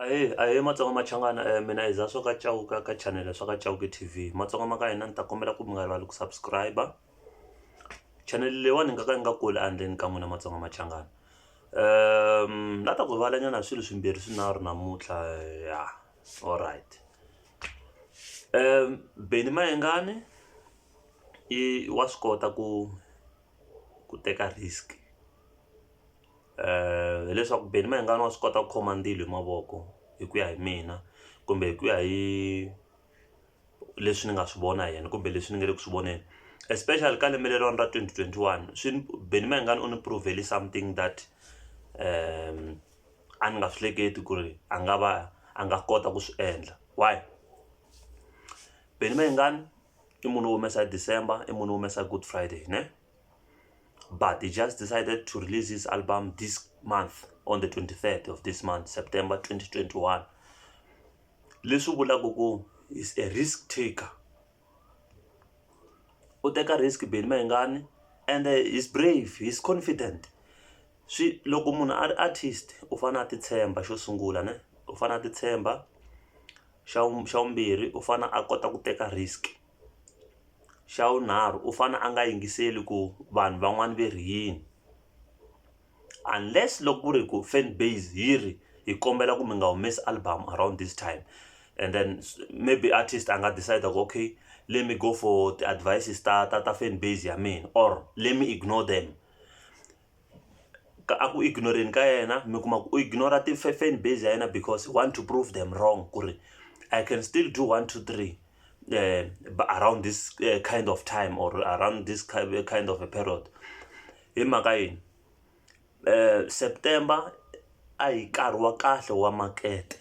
Ahee ahee matsonga machangani mina i Zaswa ka Chauke ka channel ya swa ka Chauke T_V matsonga ma ka hina ni ta kombela ku mi nga rivali ku subscribe-a channel leyiwani ni nga ka ni nga kuli ehandleni ka n'wina matsonga machangani na ta ku rivala nyana hi swilo swimbirhi swinharhu namuntlha ya alright Benny Mayengani i wa swi kota ku ku teka risk. um hileswaku Benny Mayengani wa swi kota ku khoma ndzilo hi mavoko hi ku ya hi mina kumbe hi ku ya hi leswi ni nga swi vona hi yena kumbe leswi ni nga le ku swi voneni especially ka lembe leriwani ra twenty twenty one swi ni Benny Mayengani u ni prove-le something that um a ni nga swi hleketi ku ri a nga va a nga kota ku swi endla why Benny Mayengani i munhu wo humesa hi December i munhu wo humesa hi Good Friday ne. but he just decided to release his album this month on the 23rd of this month september 2021 leswi vulaka ku is a risk taker u teka risk beni mayingani and uh, he's brave he's confident swi loko munhu a ri artist u fanele a titshemba xo sungula ne u fanele a titshemba xa xa vumbirhi u fanele a kota ku teka risk Xa vunharhu u fane a nga yingiseli ku vanhu van'wani ve ri yini unless loko ku ri ku fan base yi ri hi kombela ku mi nga humesi album around this time and then maybe artist a nga decide ku okay let me go for ti-advices ta ta ta fan base ya mina or let me ignore them. ka a ku ignore-ni ka yena mi kuma ku u ignora ti-fan base ya yena because he want to prove them wrong ku ri i can still do one two three uh, around this uh, kind of time or around this kind of a period hi mhaka yini uh, september a hi nkarhi wa kahle wa makete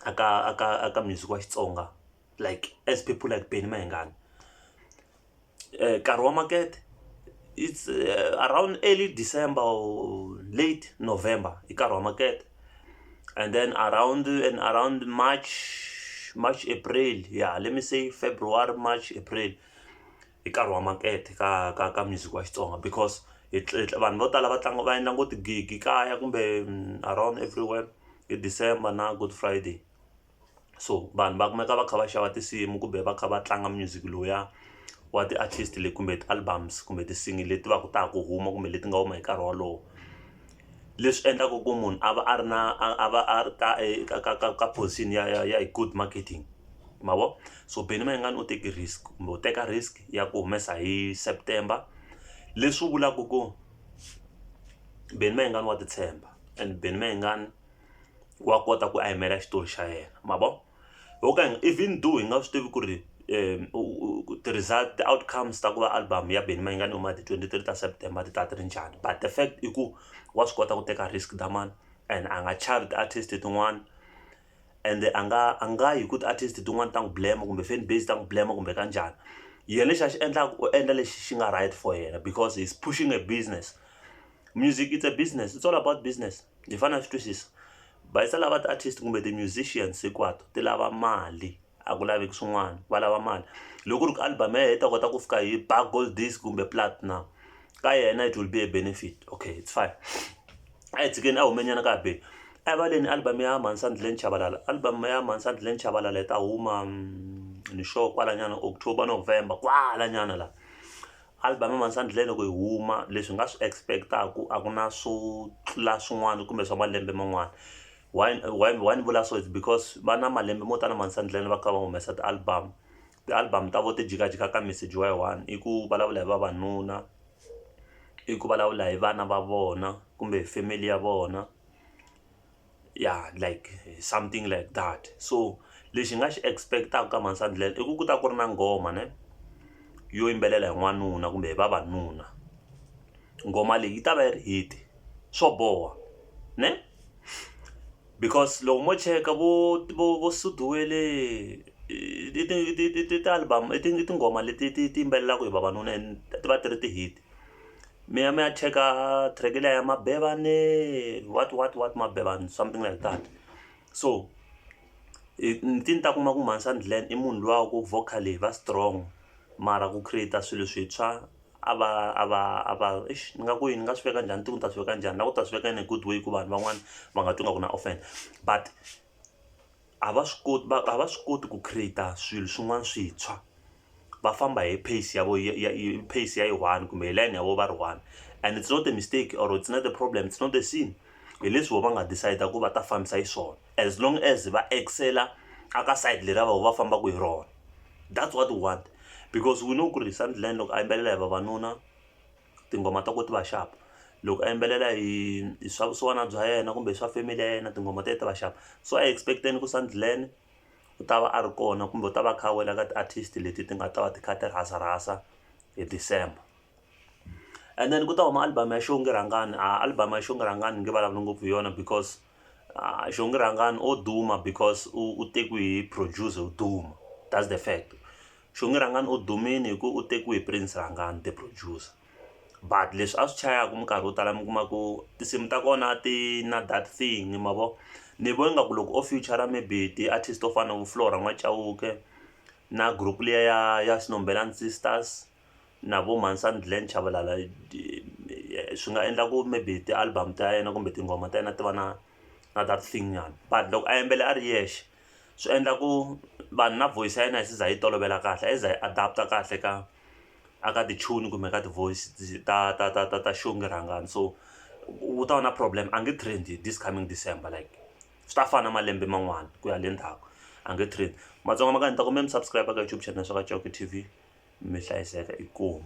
aka aka aka music wa xitsonga like as people like Benny Mayengani eh, nkarhi wa makete it's uh, around early December or late November i nkarhi wa makete and then around and around March March April yeah let me say February March April i nkarhi wa makete ka ka ka music wa Xitsonga because vanhu vo tala va tlanga va endla ngo tigigi kaya kumbe mm, around everywhere hi December na Good Friday so vanhu va kumeka va kha va xava tinsimu kumbe va kha va tlanga music lowuya wa ti artist leyi kumbe ti albums kumbe tinsimu leti va ku ta ha ku huma kumbe leti nga huma hi nkarhi wolowo leswi endlaka ku munhu a va a ri na a va a ri ka eka ka ka ka position ya ya ya good marketing ma vo so Benny Mayengani u teke risk kumbe u teka risk ya ku humesa hi September leswi vulaka ku Benny Mayengani wa ti tshemba and Benny Mayengani. wa kota ku a yimela xitori xa yena ma vo ho ka even though hi nga swi tivi ku ri um ti-result ti-outcomes ta ku va album ya Benny Mayengani huma hi ti twenty three ta September ti ta ti ri njhani but the fact i ku wa swi kota ku teka risk Dlhamani and a nga chavi ti-artist tin'wana ende a nga a nga yi ku ti-artist tin'wana ta n'wi blame kumbe fan base ta n'wi blame kumbe ka njhani yena lexi a xi endlaka u endla lexi xi nga right for yena because he's pushing a business music it's a business it's all about business. hi fane hi swi twisisa va yisa lava ti artist kumbe ti musicians hinkwato ti lava mali a ku laveki swin'wana va lava mali loko ku ri ku album ya yena yi ta kota ku fika hi ba gold disk kumbe platinum ka yena it will be a benefit okay it's fine a hi tshikeni a hume nyana ka ha be erivaleni album ya mhani sa ndleleni chavalala album ya mhani sa ndleleni chavalala yi ta huma ni sure kwala nyana october november kwala nyana la Album Mansandlé loko yi huma leswi hi nga swi expect-aku a ku na swo tlula swin'wana kumbe swa malembe man'wana why why why ni vula so is because va na malembe mo tala Mansandlé va kha va humesa ti album ti album ta vona ti jikajika ka message wa yi one i ku vulavula hi vavanuna i ku vulavula hi vana va vona kumbe family ya vona. ya like something like that so lexi hi nga xi expect-aka ka mhani Sandlela i ku ku ta ku ri na nghoma ne yo yimbelela hi n'wanuna kumbe hi vavanuna nghoma leyi yi ta va yi ri hit swo boha ne because loko mo cheka vo vo vo Sudi wele i ti album i tinghoma leti ti ti yimbelelaka hi vavanuna and ti va ti ri ti-hit. mi ya mi ya cheka track liya ya mabevane what what what mabevane something like that so i ti ni ta kuma ku Mhansani Glen i munhu luya wa ku vocally va strong mara ku create-a swilo swintshwa a va a va a va eish ni nga ku yini ni nga swi veka njhani ni tiku ni ta swi veka njhani na ku ta swi veka in a good way ku vanhu van'wani va nga twi nga ku na offend but. a va swi koti va a va swi koti ku create-a swilo swin'wana swintshwa va famba hi pace ya vo ya ya pace ya yi one kumbe hi layeni ya vo va ri one and it's not a mistake or it's not a problem it's not a scene hi leswi vo va nga decide ku va ta fambisa hi swona as long as va excel-a a ka side leriya voho va fambaka hi rona that's what we want because we know ku ri Sunderland loko a yimbelela hi vavanuna. tinghoma ta ku ti va xava loko a yimbelela hi hi swa vusiwana bya yena kumbe swa family ya yena tinghoma ta yena ti va xava so a hi expect-eni ku Sandlen u ta va a ri kona kumbe u ta va a kha a wela ka ti-artist leti ti nga ta va ti kha ti rhasa rhasa hi December and then ku ta huma album ya xongi rhangani a album ya xongi rhangani ni nge vulavuli ngopfu hi yona because xongi rhangani o duma because u tekiwe hi producer yo duma that's the fact. Xongi Rhangani u dumile hi ku u tekiwe hi Prince Rhangani the producer but leswi a swi chayaka minkarhi yo tala mi kuma ku tinsimu ta kona a ti na that thing ma vo ni vo ingaku loko o future maybe ti-artist to fana na vo Flora N'wa Chauke na group liya ya ya Snombelani Sisters na vo Mhansani Glen Chavalala swi nga endla ku maybe ti-album ta yena kumbe tinghoma ta yena ti va na na that thing nyana but loko a yimbela a ri yexe. swi endla ku vanhu na voice ya yena yi za yi tolovela kahle a yi za yi adapt-a kahle ka a ka ti-tune kumbe ka ti-voice ta ta ta ta ta xongi rhangani so u ta va na problem a nge trend this coming December like swi ta fana na malembe man'wana ku ya le ndzhaku a nge trend matsonga ma ka ni ta kombela mi subscribe ka YouTube channel swa ka Chauke T_V mi hlayiseka inkomu.